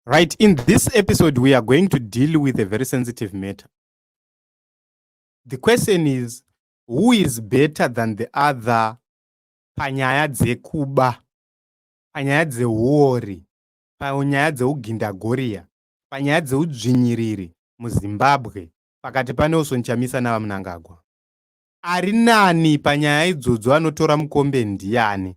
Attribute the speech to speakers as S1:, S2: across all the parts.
S1: Right, in this episode, we are going to deal with a very sensitive matter. The question is who is better than the other panyaya dzekuba, panyaya dzeuori, panyaya dzeugindagoriya, panyaya dzeudzvinyiriri muZimbabwe pakati paNelson Chamisa naVaMnangagwa? Ari nani panyaya idzodzo anotora mukombe ndiani?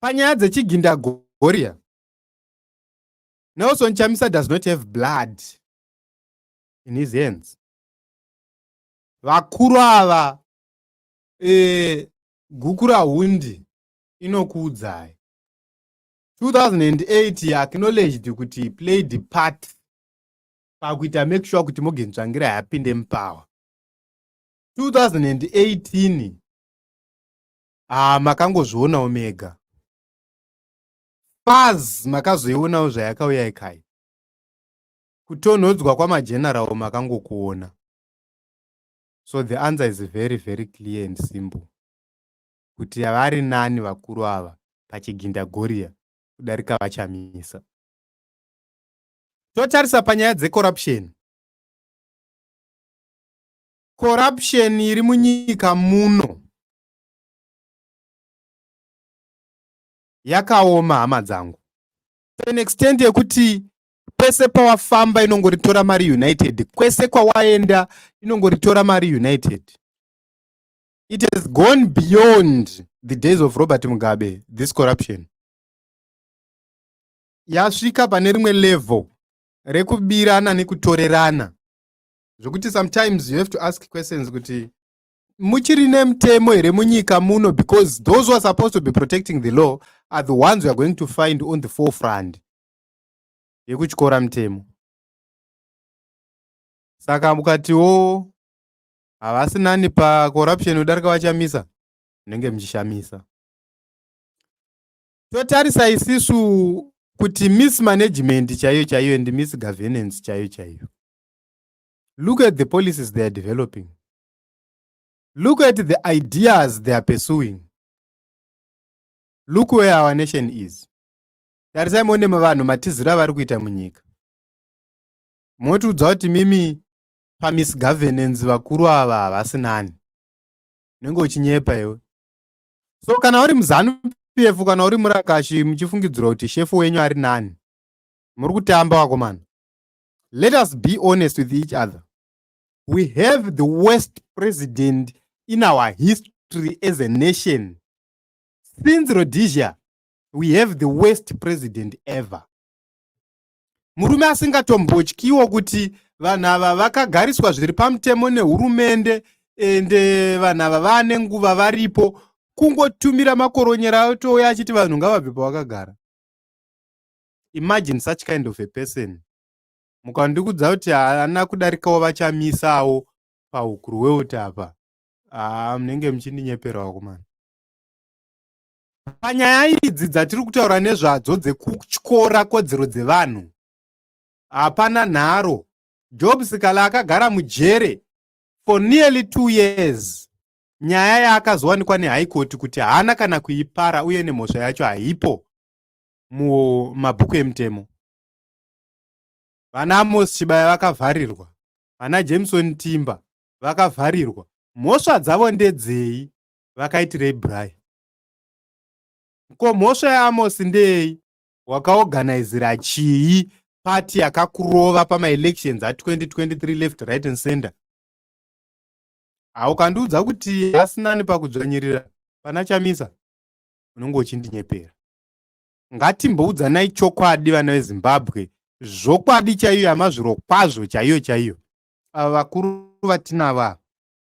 S1: panyaya dzechigindagoriya nelson chamisa does not have blood in his hands vakuru ava e, gukura hundi inokuudzai 2008 acknowledged kuti he played the part pakuita make sure kuti morgan tsvangira yapinde mupower 2018 ah makangozvionawo mega paz makazoionawo zvayakauya ikai kutonhodzwa kwamageneral makangokuona so the answer is very very clear and simple kuti vari nani vakuru ava pachiginda goriya kudarika vachamisa totarisa panyaya dzecorruption corruption iri munyika muno Yakaoma hama dzangu to an extent yekuti kwese pawafamba inongoritora mari united kwese kwawaenda inongoritora mari united it has gone beyond the days of robert mugabe this corruption yasvika pane rimwe level rekubirana nekutorerana zvekuti sometimes you have to ask questions kuti muchiri nemutemo here munyika muno because those who are supposed to be protecting the law are the ones we are going to find on the forefront yekutyora mutemo saka mukatiwo havasi nani pacorruption yodarika vachamisa munenge muchishamisa totarisa isisu kuti miss management chaiyo chaiyo and miss governance chaiyo chaiyo look at the policies they are developing Look at the ideas they are pursuing. Look where our nation is. Tarisai muone vanhu matiziro avari kuita munyika. Motiudza kuti mimi pamisgovernance vakuru ava havasi nani. Unenge uchinyepa iwe. So kana uri muzanu PF kana uri murakashi muchifungidzirwa kuti shefu wenyu ari nani. Muri kutamba wakomana. Let us be honest with each other. we have the worst president in our history as a nation since rhodesia we have the worst president ever murume asingatombotyiwo kuti vanhu ava vakagariswa zviri pamutemo nehurumende ende vanhu ava vane nguva varipo kungotumira makoronyera atouya achiti vanhu ngavabve pavakagara imagine such kind of a person mukandikudza kuti haana kudarikawo vachamisawo pahukuru weuti apa haa munenge muchindinyepera vakomana panyaya idzi dzatiri kutaura nezvadzo dzekutyora kodzero dzevanhu hapana nharo job sikala akagara mujere for nearly two years nyaya yaakazowanikwa nehaikoti kuti haana kana kuipara uye nemhosva yacho haipo mumabhuku emutemo vana amos chibaya vakavharirwa vana jameson timba vakavharirwa mhosva dzavo ndedzei vakaitirei brian ko mhosva yaamos ndeyei wakaoganizira chii pati yakakurova pamaelections a2023 left right and center haukandiudza kuti asinani pakudzvanyirira pana chamisa unenge uchindinyepera ngatimboudzanai chokwadi vana vezimbabwe zvokwadi chaiyo yamazviro kwazvo chaiyo chaiyo ava vakuru vatinava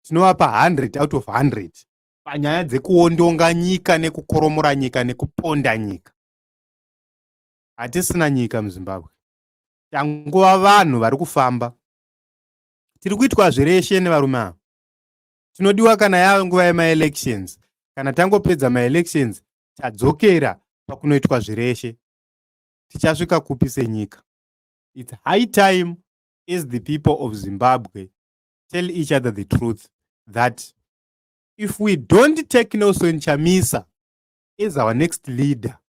S1: tinovapa 100 out of 100 panyaya dzekuondonga nyika nekukoromora nyika nekuponda nyika hatisina nyika muzimbabwe tangova vanhu vari kufamba tiri kuitwa zvireshe nevarume ava tinodiwa kana yave nguva yemaelections kana tangopedza maelections tadzokera pakunoitwa zvireshe tichasvika kupi senyika its high time as the people of zimbabwe tell each other the truth that if we don't take nelson chamisa as our next leader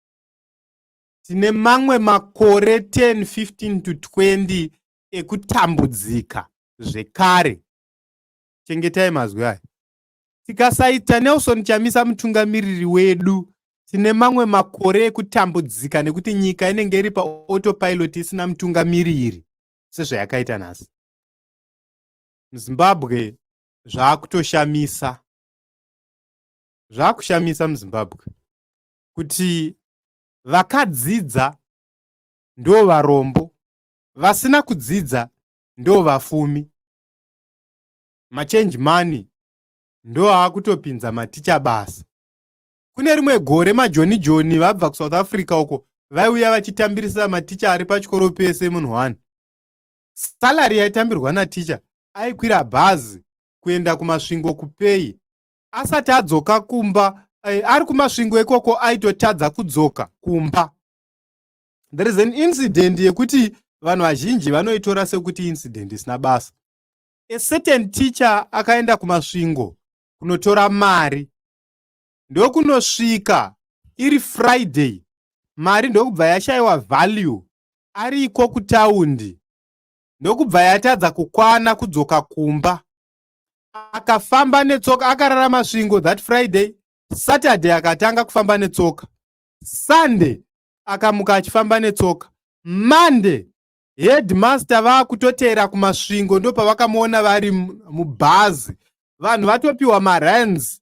S1: tine mamwe makore 10 15 to 20 ekutambudzika zvekare chengetai mazwi aya Tikasaita Nelson Chamisa mutungamiriri wedu, tine mamwe makore ekutambudzika nekuti nyika inenge iri paotopilot isina mutungamiriri sezvayakaita nhasi. MuZimbabwe zvaakutoshamisa, zvaakushamisa muZimbabwe kuti vakadzidza ndo varombo, vasina kudzidza ndo vafumi. machange money ndoaakutopinza maticha basa kune rimwe gore majoni joni vabva kusouth africa uko vaiuya vachitambirisa maticha ari pachikoro pese munhu one salary yaitambirwa naticha aikwira bhazi kuenda kumasvingo kupei asati adzoka kumba eh, ari kumasvingo ikoko aitotadza kudzoka kumba there is an incident yekuti vanhu vazhinji vanoitora sekuti incident isina basa a certain teacher akaenda kumasvingo kunotora mari ndokunosvika iri friday mari ndokubva yashaiwa value ariko kutaundi ndokubva yatadza kukwana kudzoka kumba akafamba netsoka akarara masvingo that friday saturday akatanga kufamba netsoka sunday akamuka achifamba netsoka monday headmaster vakutoteera kumasvingo ndopavakamuona vari mubhazi vanhu vatopiwa marans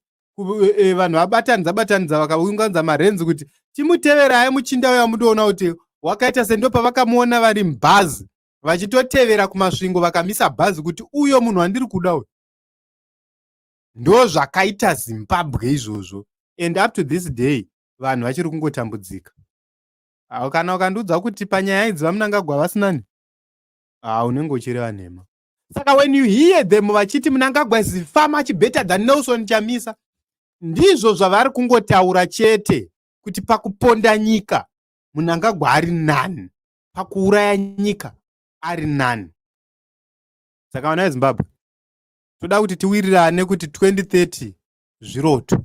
S1: e, e, vanhu vabatanidza batanidza vakaunganidza marans kuti timuteverai muchinda uya mudoona kuti wakaita se ndopavakamuona vari mubhazi vachitotevera kumasvingo vakamisa bhazi kuti uyo munhu wandiri kuda uyo ndo zvakaita zimbabwe izvozvo and up to this day vanhu vachiri kungotambudzika Awo kana ukandiudza kuti panyaya idzi vamunangagwa vasinani haa unenge uchireva nhema saka when you hear them vachiti munangagwa is far much better than nelson chamisa ndizvo zvavari kungotaura chete kuti pakuponda nyika munangagwa ari nani pakuuraya nyika ari nani saka vana vezimbabwe toda kuti tiwirirane kuti 2030 zviroto